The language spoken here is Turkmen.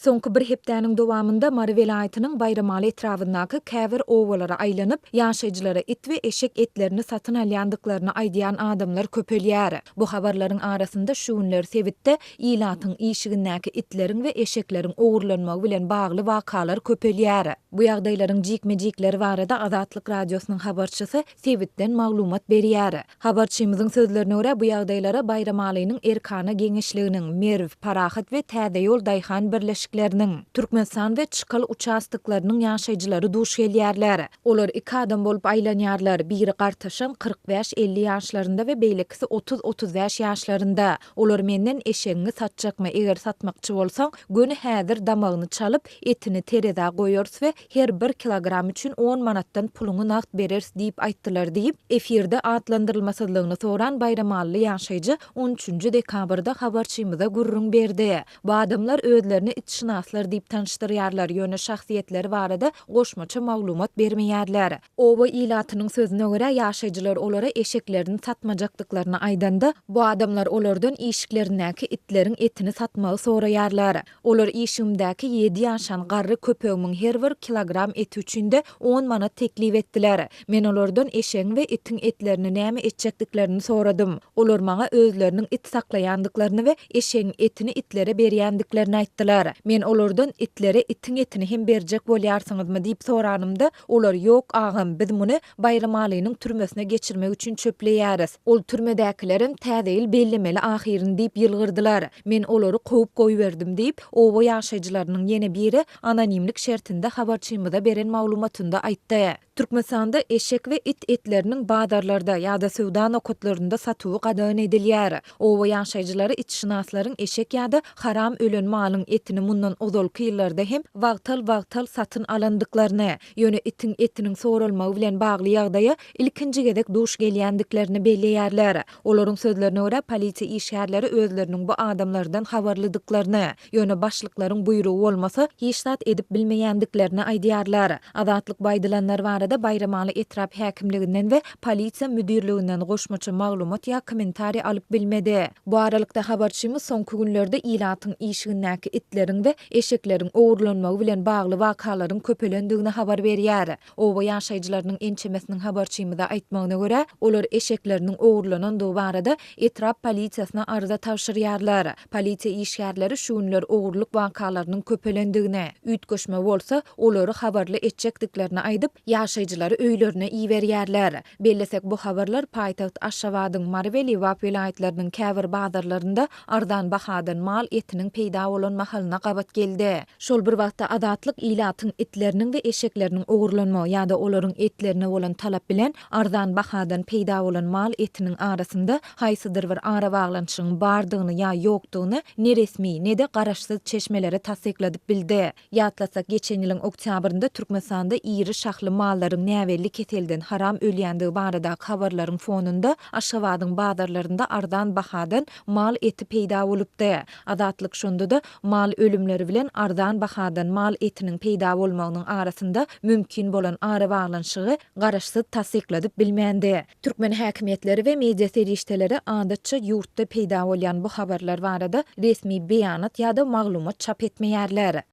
Soňky bir hepdäniň dowamynda Mary welaýatynyň Baýramaly etrabyndaky käbir obalara aýlanyp, ýaşaýjylara it we eşek etlerini satyn alýandyklaryny aýdýan adamlar köpelýär. Bu habarlaryň arasynda şu günler sebitde ilatyň işigindäki itleriň we eşekleriň ogurlanmagy bilen bagly wakalar köpelýär. Bu ýagdaýlaryň jikme-jikleri barada Azatlyk Radiosynyň habarçysy sebitden maglumat berýär. Habarçymyzyň sözlerine görä, bu ýagdaýlara Baýramalynyň Erkana geňeşliginiň, Merw, Parahat we Täze ýol daýhan birleşikleriniň, Türkmenistan we Çykal uçastoklarynyň ýaşaýjylary duş gelýärler. Olar iki adam bolup aýlanýarlar, biri gartaşan kyrk bäş, elli ýaşlarynda we beýlekisi otuz, otuz bäş ýaşlarynda. Olar menden eşegiňi satjakmy, eger satmakçy bolsaň, göni häzir damagyny çalyp, etini terezä goýarys we Her bir kilogram üçin on manatdan puluňy nagt bereris diýip aýtdylar diýip, efirde atlandyrylmasyzlygyny soran baýramally ýaşaýjy on üçünji dekabrda habarçymyza gürrüň berdi. Bu adamlar özlerini itşynaslar diýip tanyşdyrýarlar, ýöne şahsyýetleri barada goşmaça maglumat bermeýärler. Oba ilatynyň sözüne görä, ýaşaýjylar olara eşeklerini satmajakdyklaryny aýdanda, bu adamlar olardan işiklerindäki itleriň etini satmagy soraýarlar. Olar işigimdäki ýedi ýaşan garry köpegimiň her bir kilogram eti üçin-de on manat teklip etdiler. Men olardan eşegiň we itiň etlerini näme etjekdiklerini soradym. Olar maňa özleriniň it saklaýandyklaryny we eşegiň etini itlere berýändiklerini aýtdylar. Men olardan itlere itiň etini hem berjek bolýarsyňyzmy diýip soranymda, Olar, Ýok, agam, biz muny Baýramalynyň türmesine geçirmek üçin çöpleýäris. Ol türmedäkilerem Täze ýyl bellemeli ahyryn diýip ýylgyrdylar. Men olary kowup goýberdim diýip, oba ýaşaýjylarynyň ýene biri anonimlik şertinde habarçymyza beren maglumatynda aýtdy. Türkmenistanda eşek we it etleriniň bazarlarda ýa-da söwda nokatlarynda satuwy gadagan edilýär. Oba ýaşaýjylary itşynaslaryň eşek ýa-da Haram ölen malyň etini mundan ozalky ýyllarda hem wagtal-wagtal satyn alandyklaryny, ýöne itiň etiniň soralmagy bilen bagly ýagdaýa ilkinji gezek duş gelýändiklerini belleýärler. Olaryň sözlerine görä, polisiýa işgärleri özleriniň bu adamlardan habarlydyklaryny, ýöne başlyklaryň buýrugy bolmasa, hiç zat edip bilmeýändiklerini aýdýarlar. Azatlyk bu aýdylanlar barada Baýramaly etrap häkimliginden we polisiýa müdirliginden goşmaça maglumat ýa kommentariý alyp bilmedi. Bu aralykda, habarçymyz soňky günlerde ilatyň işigindäki itleriň we eşekleriň ogurlanmagy bilen bagly wakalaryň köpelendigini habar berýär. Oba ýaşaýjylarynyň ençemesiniň habarçymyza aýtmagyna görä, olar eşekleriniň ogurlanandygy barada etrap polisiýasyna arza tabşyrýarlar. Polisiýa işgärleri şu günler ogurlyk wakalarynyň köpelendigini, üýtgeşme bolsa, olary habarly etjekdiklerini aýdyp, ýaşaýjylary öýlerine iberýärler. Bellesek, bu habarlar paýtagt Aşgabadyň, Mary we Lebap welaýatlarynyň käbir bazarlarynda arzan bahadan mal etiniň peýda bolan mahalyna gabat geldi. Şol bir wagtda, Azatlyk ilatyň itleriniň we eşekleriniň ogurlanmagy ýa-da olaryň etlerine bolan talap bilen arzan bahadan peýda bolan mal etiniň arasynda haýsydyr bir arabaglanyşygyň bardygyny ýa ýokdugyny ne resmi, ne-de garaşsyz çeşmeleri tassykladyp bildi. Ýatlasak, geçen ýylyň oktýabrynda Türkmenistanda iri şahly mallaryň näbelli keselden haram ölýändigi baradaky habarlaryň fonunda Aşgabadyň bazarlarynda arzan bahadan mal eti peýda bolupdy. Azatlyk şonda-da mal ölümleri bilen arzan bahadan mal etiniň peýda bolmagynyň arasynda mümkin bolan arabaglanyşygy garaşsyz tassykladyp bilmändi. Türkmen häkimiýetleri we media serişdeleri adatça ýurtda peýda bolýan bu habarlar barada resmi beýanat ýa-da maglumat çap etmeýärler.